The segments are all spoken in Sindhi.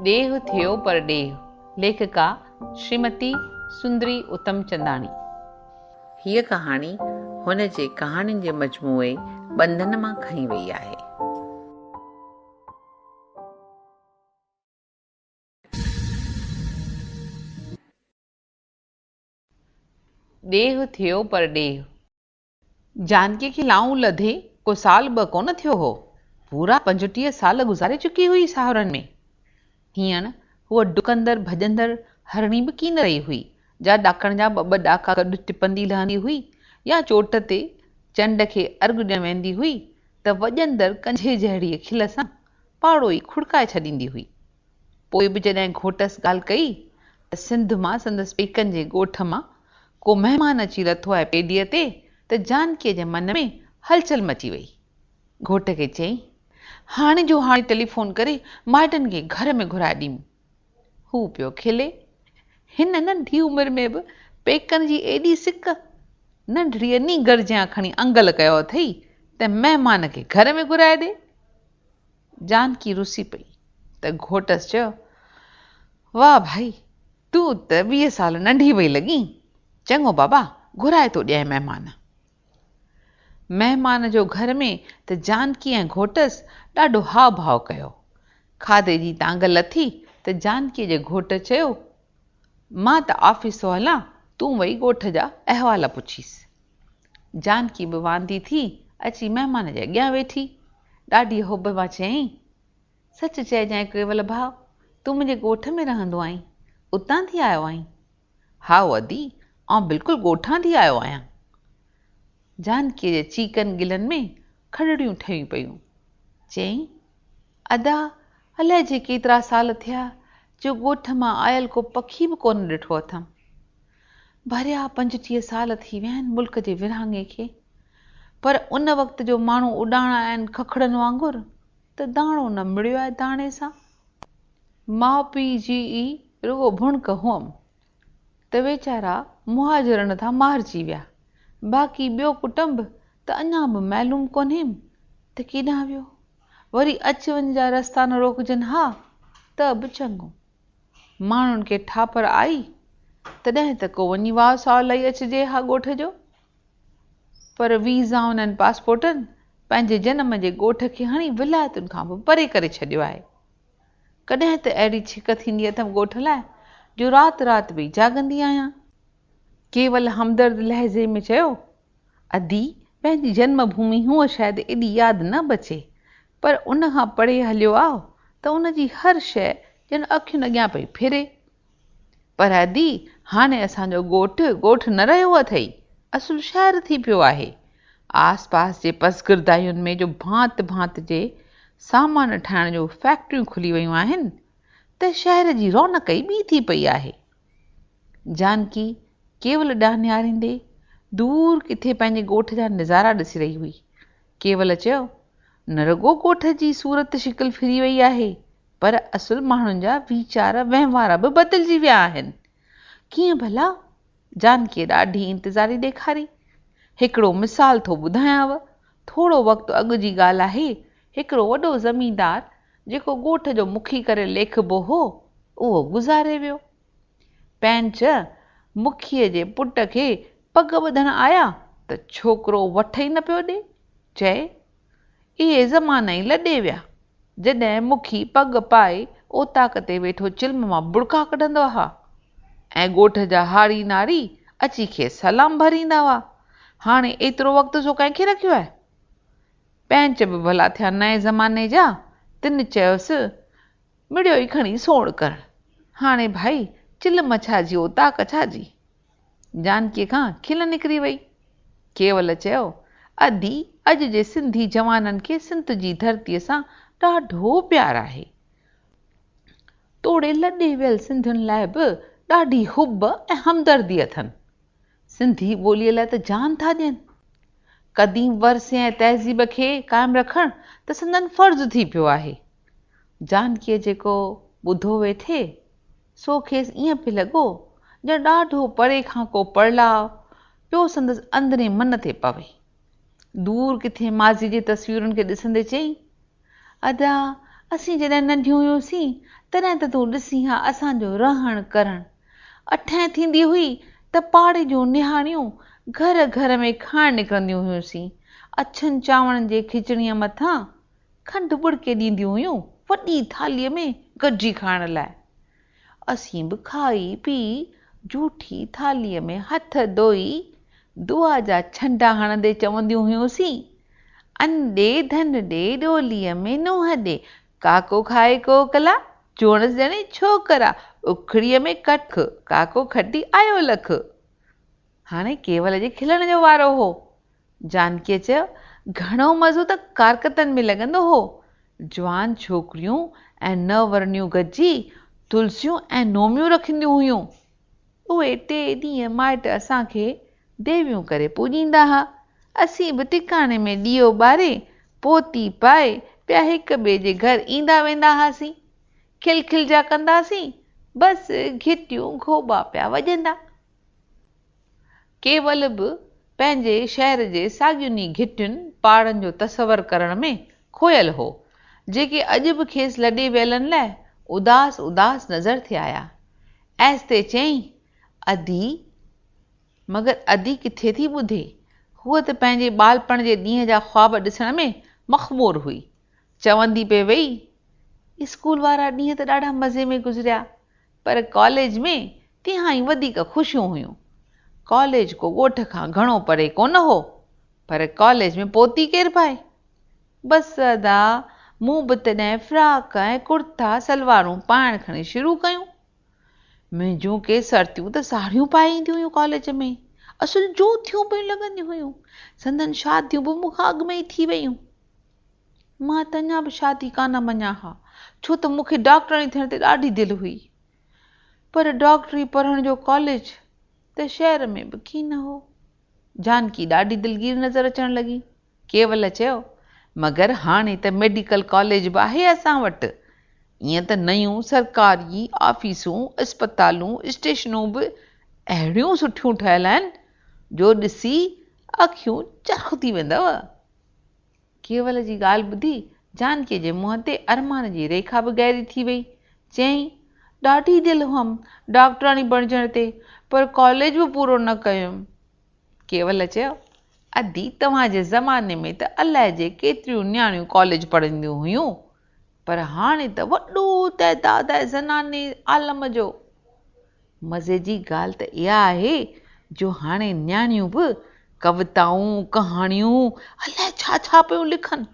ڏيهه ٿيو پرڏيهه، ليکڪا شريمتي سندري اتمچنداڻي. هيء ڪهاڻي هن جي ڪهاڻين جي مجموعي ٻنڌن مان کنئي وئي آهي. ڏيهه ٿيو پرڏيهه. جانڪي کي لائون لڌي ڪو سال ٻه ڪونه ٿيو هو. پورا پنجٽيهه سال گذاري چڪي هئي ساهرن ۾. هينئر هوء ڊڪندڙ ڀڄندڙ هرڻي به ڪين رهي هئي، جا ڏاڪڻ جا ٻه ٻه ڏاڪا گڏ ٽپندي لهندي هئي يا چوٽ تي چنڊ کي ارغ ڏيڻ ويندي هئي ته وڄندڙ ڪنجهي جهڙيء کل سان پاڙو ئي کڙڪائي ڇڏيندي هئي. پوء به جڏهن گهوٽس ڳالهه ڪئي ته سنڌ مان سندس پيڪن جي ڳوٺ مان ڪو مهمان اچي لٿو آهي پيڊيء تي ته جانڪيء جي من ۾ هلچل مچي وئي. گهوٽ کي چيائين، هاڻي جو هاڻي ٽيليفون ڪري مائٽن کي گهر ۾ گهرائي ڏيون. هو پيو کلي. هن ننڍي عمر ۾ به پيڪن جي ايڏي سڪ! ننڍڙيء نينگر جيان کڻي انگل ڪيو اٿئي ته مهمان کي گهر ۾ گهرائي ڏي. جانڪي رسي پئي ته گهوٽس چيو، واهه ڀائي، تون ته ويهه سال ننڍي پئي لڳين. چڱو بابا، گهرائي ٿو ڏيانء مهمان. مهمان جو گهر ۾ ته جانڪي ۽ گهوٽس ڏاڍو هاء ڀاء ڪيو. کاڌي جي تانگهه لٿي ته جانڪيء جي گهوٽ چيو، مان ته آفيس ٿو هلان، تون وئي ڳوٺ جا احوال پڇيس. جانڪي به واندي ٿي اچي مهمان جي اڳيان ويٺي. ڏاڍيء حب مان چيائين، سچ چئجانء ڪيول ڀاء، تون منهنجي ڳوٺ ۾ رهندو آهين، اتان ٿي آيو آهين. هائو ادي، آئون بلڪل ڳوٺان ٿي آيو آهيان. جانڪيء جي چيڪن ڳلن ۾ کڏڙيون ٺهيون پيون. چيائين، ادا، الائي جي ڪيترا سال ٿيا جو ڳوٺ مان آيل ڪو پکي به ڪونه ڏٺو اٿم. ڀريا پنجٽيهه سال ٿي ويا آهن ملڪ جي ورهاڱي کي، پر ان وقت جو ماڻهو اڏاڻا آهن ککڙن وانگر. ته داڻو نه مڙيو آهي داڻي سان. ماء پيء جي ئي رڳو ڀڻڪ هئم ته ويچارا مهاجرن ڌان مارجي ويا، باقي ٻيو ڪٽنب ته اڃا به معلوم ڪونهيم ته ڪيڏانهن ويو. وري اچ وڃ جا رستا نه روڪجن ها ته به چڱو. ماڻهن کي ٺاپر آئي، تڏهن ته ڪو وڃي واء ساء لئي اچجي ها ڳوٺ جو. پر ويزائن ۽ پاسپورٽن پنهنجي جنم جي ڳوٺ کي هڻي ولايتن کان به پري ڪري ڇڏيو آهي. ڪڏهن ته اهڙي ڇڪ ٿيندي اٿم ڳوٺ لاء جو رات رات ويهي جاڳندي آهيان. ڪيول همدرد لهجي ۾ چيو، ادي، پنهنجي جنم ڀومي هونء شايد ايڏي ياد نه بچي، پر ان کان پري هليو آء ته ان جي هر شيء ڄڻ اکين اڳيان پئي ڦري. پر ادي، هاڻي اسان جو ڳوٺ، ڳوٺ نه رهيو اٿئي، اصل شهر ٿي پيو آهي. آس پاس جي پسگردائين ۾ جو ڀانت ڀانت جي سامان ٺاهڻ جون فيڪٽريون کلي ويون آهن، ته شهر جي رونق ئي ٻي ٿي پئي آهي. جانڪي ڪيول ڏانهن نهاريندي، دور ڪٿي پنهنجي ڳوٺ جا نظارا ڏسي رهي هئي. ڪيول چيو، نه رڳو ڳوٺ جي صورت شڪل ڦري ويئي آهي، پر اصل ماڻهن جا ويچار وهنوار به بدلجي ويا آهن. ڪيئن ڀلا؟ جانڪيء ڏاڍي انتظاري ڏيکاري. هڪڙو مثال ٿو ٻڌايانء. ٿورو وقت اڳ جي ڳالهه آهي، هڪڙو وڏو زميندار جيڪو ڳوٺ جو مکي ڪري ليکبو هو، اهو گذاري ويو. پنهنچ مکيء جي پٽ کي پڳ ٻڌڻ آيا ته ڇوڪرو وٺ ئي نه پيو ڏي، چئي اهي زمانا ئي لڏي ويا، جڏهن مکي پڳ پائي اوطاق تي ويٺو چلم مان ٻڙڪا ڪڍندا هئا ۽ ڳوٺ جا هاڙي ناري اچي کيس سلام ڀريندا هئا. هاڻي ايترو وقت سو ڪنهن کي رکيو آهي؟ پينچ به ڀلا ٿيا نئين زماني جا، تن چيس، مڙيو ئي کڻي سوڙ ڪرڻ، هاڻي ڀائي چلم ڇا جي اوطاق ڇا جي؟ جانڪيء کان کل نڪري وئي. ڪيول چيو، ادي، اڄ جي سنڌي جوانن کي سنڌ جي ڌرتيء سان ڏاڍو پيار آهي. توڙي لڏي ويل سنڌين لاء به ڏاڍي حب ۽ همدردي اٿن. سنڌي ٻوليء لاء ته جان ٿا ڏين. قديم ورثي ۽ تهذيب کي قائم رکڻ ته سندن فرض ٿي پيو آهي. جانڪيء جيڪو ٻڌو ويٺي، سو کيس ائين پئي لڳو ڄڻ ڏاڍو پري کان ڪو پڙلاء پيو سندس اندرين من تي پوي. دور ڪٿي ماضيء جي تصويرن کي ڏسندي چيائين، ادا، اسين جڏهن ننڍيون هيوسين، تڏهن ته تون ڏسين ها اسان جو رهڻ ڪرڻ. اٺين ٿيندي هئي ته پاڙي جون نهاڻيون گهر گهر ۾ کائڻ نڪرنديون هيوسين. اڇن چانورن جي کچڻيء مٿان کنڊ ٻڙڪي ڏينديون هيون وڏي ٿالهيء ۾ گڏجي کائڻ لاء. اسين به کائي پي جهوٺي ٿالهيء ۾ هٿ ڌوئي دعا جا ڇنڊا هڻندي چونديون هيونسين، ان ڏي ڌن ڏي ڏوليء ۾ نونهن ڏي، ڪاڪو کائي ڪوڪلا، جوڻس ڄڻي ڇوڪرا، اکڙيء ۾ ڪک، ڪاڪو کٽي آيو لک. هاڻي ڪيول جي کلڻ جو وارو هو. جانڪيء چيو، گهڻو مزو ته ڪارڪتن ۾ لڳندو هو. جوان ڇوڪريون ۽ نو ورڻيون گڏجي تلسيون ۽ نوميون رکنديون هيون. اهي ٽي ڏينهن مائٽ اسان کي ديويون ڪري پوڄيندا ها. اسين به ٽڪاڻي ۾ ڏيئو ٻاري، پوتي پائي پيا هڪ ٻئي جي گهر ايندا ويندا هئاسين. کل کلجا ڪنداسين، بس گهٽيون گهوٻا پيا وڄندا. ڪيول به پنهنجي شهر جي ساڳين ئي گهٽين پاڙن جو تصور ڪرڻ ۾ کوهيل هو، جيڪي اڄ به کيس لڏي ويلن لاء اداس اداس نظر ٿي آيا. ايستي چيائين، ادي! مگر ادي ڪٿي ٿي ٻڌي؟ هوء ته پنهنجي ٻالپڻ جي ڏينهن جا خواب ڏسڻ ۾ مخمور هئي. چوندي پئي ويئي، اسڪول وارا ڏينهن ته ڏاڍا مزي ۾ گذريا. پر ڪاليج ۾ تهائين وڌيڪ خوشيون هيون. ڪاليج ڪو ڳوٺ کان گهڻو پري ڪونه هو، پر ڪاليج ۾ پهتي ڪير پائي؟ بس ادا، مون به تڏهن فراڪ ۽ ڪرتا سلوارون پائڻ کڻي شروع ڪيون. منهنجون ڪي سرتيون ته ساڙهيون پائي اينديون هيون ڪاليج ۾، اصل جوتيون پيون لڳنديون هيون. سندن شاديون به مون کان اڳ ۾ ئي ٿي ويون. مان ته اڃا به شادي ڪانه مڃان ها، ڇو ته مون کي ڊاڪٽرڻي ٿيڻ تي ڏاڍي دل هئي. پر ڊاڪٽري پڙهڻ جو ڪاليج ته شهر ۾ به ڪين هو. جانڪي ڏاڍي دلگير نظر اچڻ لڳي. ڪيول چيو، مگر هاڻي ته ميڊيڪل ڪاليج به آهي اسان وٽ. ائين ته نيون سرڪاري آفيسون، اسپتالون، اسٽيشنون به اهڙيون سٺيون ٺهيل آهن، جو ڏسي اکيون چرخ ٿي ويندؤ. ڪيول جي ڳالهه ٻڌي جانڪيء جي منهن تي ارمان جي ريکا به گهري ٿي وئي. چيائين، ڏاڍي دل هئم ڊاڪٽراڻي بڻجڻ تي، پر ڪاليج به پورو نه ڪيم. ڪيول چيو، ادي توهان جي زماني ۾ ته الاء جي ڪيتريون نياڻيون ڪاليج پڙهنديون هيون. پر هاڻي ته وڏو تعداد آهي زناني عالم جو. مزي جي ڳالهه ته اها آهي جو هاڻي نياڻيون به ڪوتائون، ڪهاڻيون الائي ڇا ڇا پيون لکن.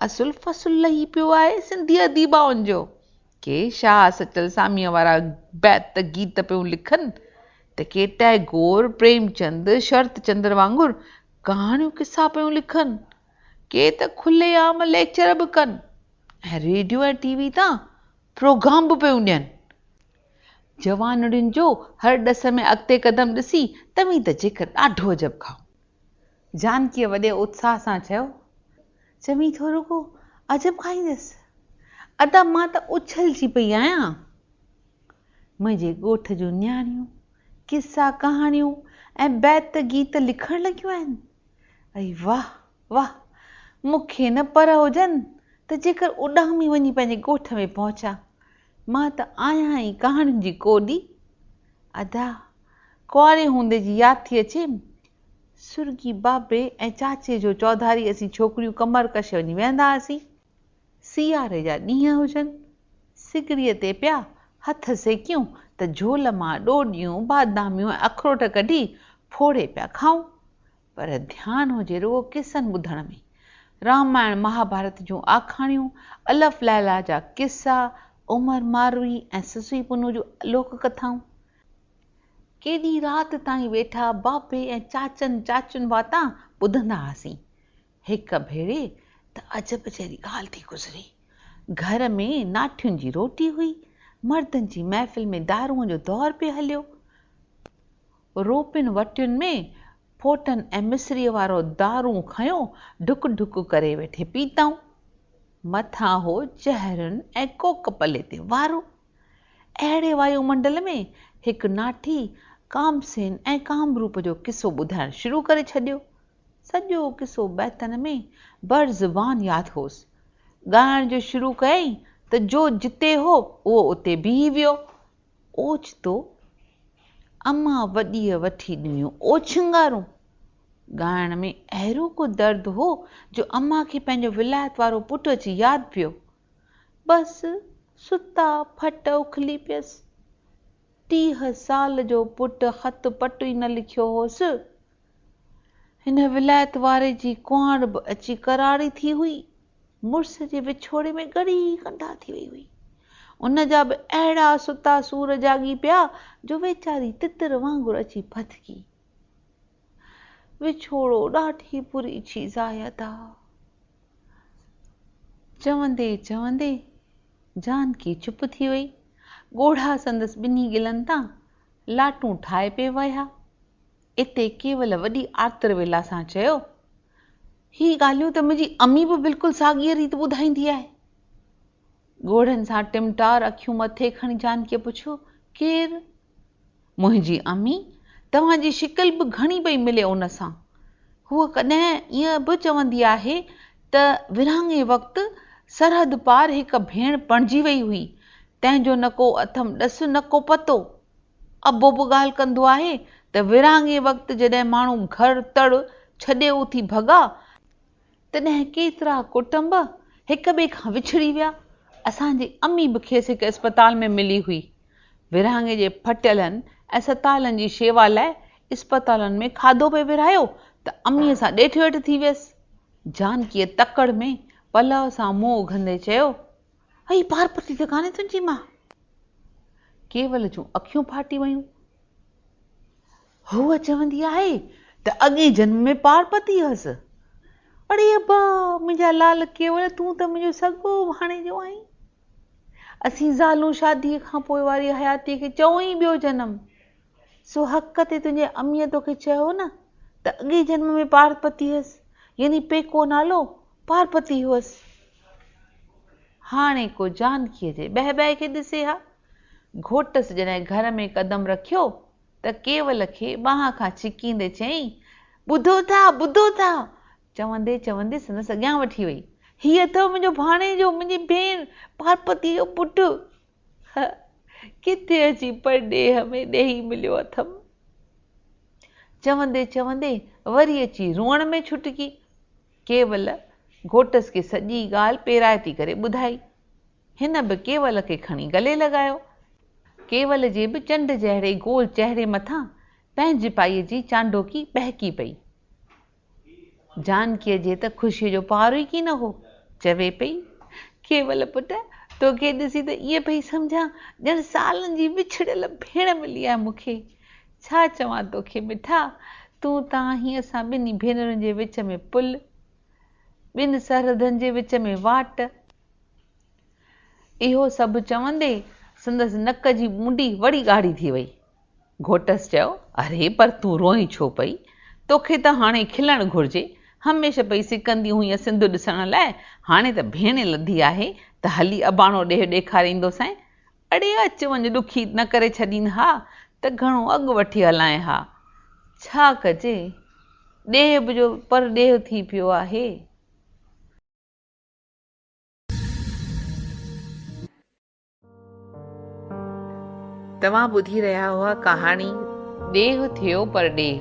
اصل فصل لهي پيو آهي سنڌي اديبائن جو. ڪي شاهه سچل ساميء وارا بيت گيت پيون لکن ته ڪي ٽئگور، پريمچند، شرت چندر وانگر ڪهاڻيون قصا پيون لکن. ڪي ته کلي عام ليڪچر به ڪن ۽ ريڊيو ۽ ٽي وي تان پروگرام به پيون ڏين. جوانڙين جو هر ڏس ۾ اڳتي قدم ڏسي توهين ته جيڪر ڏاڍو عجب کائو. جانڪيء وڏي اتساهه سان چيو، چوين ٿو رڳو عجب کائيندس؟ ادا مان ته اڇلجي پئي آهيان. منهنجي ڳوٺ جون نياڻيون قصا ڪهاڻيون ۽ بيت گيت لکڻ لڳيون آهن. اي واھ واھ! مون کي نه پر هجن ته جيڪر اڏامي وڃي پنهنجي ڳوٺ ۾ پهچان. مان ته آهيان ئي ڪهاڻين جي ڪوڏي. ادا، ڪنواري هوندي جي ياد ٿي اچيم. سرڳي بابي ۽ چاچي جو چوڌاري اسين ڇوڪريون ڪمر ڪشي وڃي ويهندا هئاسين. سياري جا ڏينهن هجن، سگڙيء تي پيا هٿ سيڪيون ته جهول مان ڏوڏيون، باداميون ۽ اخروٽ ڪڍي ڦوڙي پيا کائون. پر ڌيان هجي رڳو قصن ٻڌڻ ۾. رامائڻ مهاڀارت جون آکاڻيون، الف ليلا جا قصا، عمر ماروئي ۽ سسئي پنهون جون لوڪ ڪٿائون. ڪيڏي رات تائين ويٺا بابي ۽ چاچن چاچين واتان ٻڌندا هئاسين. هڪ ڀيري ته عجب جهڙي ڳالهه ٿي گذري. گهر ۾ ناٺين جي روٽي هئي. مردن جي محفل ۾ دارونء جو دور پئي هليو. روپين وٽين ۾ ڦوٽن ۽ مصريء وارو دارون کنيو ڍڪ ڍڪ ڪري ويٺي پيتائون. مٿان هو چهرن ۽ ڪوڪ پلي تي وارو. اهڙي وايو منڊل ۾ هڪ ناٺي ڪامسين ۽ ڪامروپ جو قصو ٻڌائڻ شروع ڪري ڇڏيو. سڄو قصو بيتن ۾ بر زبان ياد هوس. ڳائڻ جو شروع ڪيائين ته جو جتي هو اهو اتي بيهي ويو. اوچتو امان وڏيء وٺي ڏنيون اوڇنگارون. ڳائڻ ۾ اهڙو ڪو درد هو جو امان کي پنهنجو ولايت وارو پٽ اچي ياد پيو. بس ستا ڦٽ اکلي پيس. ٽيهه سال جو پٽ خط پٽ ئي نه لکيو هوس. هن ولايت واري جي ڪهاڻ به اچي ڪراڙي ٿي هئي. مڙس جي وڇوڙي ۾ ڳڙي ئي ڪنڊا ٿي وئي هئي. ان جا به اهڙا ستا سور جاڳي پيا جو ويچاري تتر وانگر اچي ڦٿڪي. وڇوڙو ڏاڍي بري چيز آهي ادا. چوندي چوندي جانڪي چپ ٿي وئي. ڳوڙها سندس ٻنهي ڳلن تان لاٽون ٺاهي پئي وهيا. اتي ڪيول وڏي آرتر ويلا سان چيو، هي ڳالهيون ته منهنجي امي به بلڪل ساڳيء ريت ٻڌائيندي آهي. ڳوڙهن سان ٽمٽار اکيون مٿي کڻي جانڪيء پڇيو، ڪير؟ منهنجي امي، توهان جي شڪل به گهڻي پئي ملي ان سان. هوء ڪڏهن ائين به چوندي آهي ته ورهاڱي وقت سرحد پار هڪ ڀيڻ پڻجي وئي هئي، تنهن جو نه ڪو اٿم ڏس نه ڪو پتو. ابو به ڳالهه ڪندو آهي ته ورهاڱي وقت جڏهن ماڻهو گهر تڙ ڇڏي اٿي ڀڳا تڏهن ڪيترا ڪٽنب هڪ ٻئي کان وڇڙي ويا. اسان جي امي به کيس هڪ اسپتال ۾ ملي هئي. ورهاڱي جي ڦٽيلن ۽ ستايلن جي شيوا لاء اسپتالن ۾ کاڌو پئي ورهايو ته اميء سان ڏيٺ ويٺ ٿي ويس. جانڪيء تڪڙ ۾ پلئه سان منهن اگهندي چيو. اھي پارپتي ته ڪانھي تنھنجي مان. ڪيول جون اکيون ڦاٽي ويون. ھوء چوندي آھي ته اڳئين جنم ۾ پارپتي ھئس. اڙي ابا! منھنجا لال ڪيول تون ته منھنجو سڳو ڀاڻيجو آھين. اسين زالون شاديء کان پوء واري حياتيء کي چئون ئي ٻيو جنم. سو حق تي تنھنجي اميء توکي چيو نه ته اڳئين جنم ۾ پارپتي ھئس يعني پيڪو نالو پارپتي ھئس. هاڻي ڪو جانڪيء جي بهبهه کي ڏسي ها. گهوٽس جڏهن گهر ۾ قدم رکيو ته ڪيول کي ٻانهن کان ڇڪيندي چيائين، ٻڌو ٿا، ٻڌو ٿا! چوندي چوندي سندس اڳيان وٺي وئي، هي اٿئو منهنجو ڀاڻيجو، منهنجي ڀيڻ پارپتيء جو پٽ. هه ڪٿي اچي پرڏيهه ۾ ڏيهي مليو اٿم. چوندي چوندي وري اچي روئڻ ۾ ڇٽڪي. ڪيول گهوٽس کي سڄي ڳالهه پيرائتي ڪري ٻڌائي. هن به ڪيول کي کڻي گلي لڳايو. ڪيول جي به چنڊ جهڙي گول چهري مٿان پنهنجپائيء جي چانڊوڪي ٻهڪي پئي. جانڪيء جي ته خوشيء جو پارو ئي ڪين هو. چوي پئي. ڪيول پٽ! توکي ڏسي ته ائين پئي سمجهان ڄڻ سالن جي وڇڙيل ڀيڻ ملي آهي مون کي. ڇا چوان توکي مٺا، تون ته آهين اسان ٻنهي ڀينرن جي وچ ۾ پل، ٻن سرحدن جي وچ ۾ واٽ. اهو سڀ چوندي سندس نڪ جي مونڊي وري ڳاڙهي ٿي وئي. گهوٽس چيو، اري پر تون روئين ڇو پئي؟ توکي ته هاڻي کلڻ گهرجي. هميشه پئي سڪندي هئينء سنڌ ڏسڻ لاء، هاڻي ته ڀيڻي لڌي آهي ته هلي اباڻو ڏيهه ڏيکاريندوسانء. اڙي اچ وڃ ڏکي نه ڪري ڇڏين ها ته گهڻو اڳ وٺي هلائين ها. ڇا ڪجي ڏيهه به جو پر ڏيهه ٿي پيو آهي. توهان ٻڌي رهيا هئا ڪهاڻي. ڏيهه ٿيو پر ڏيهه.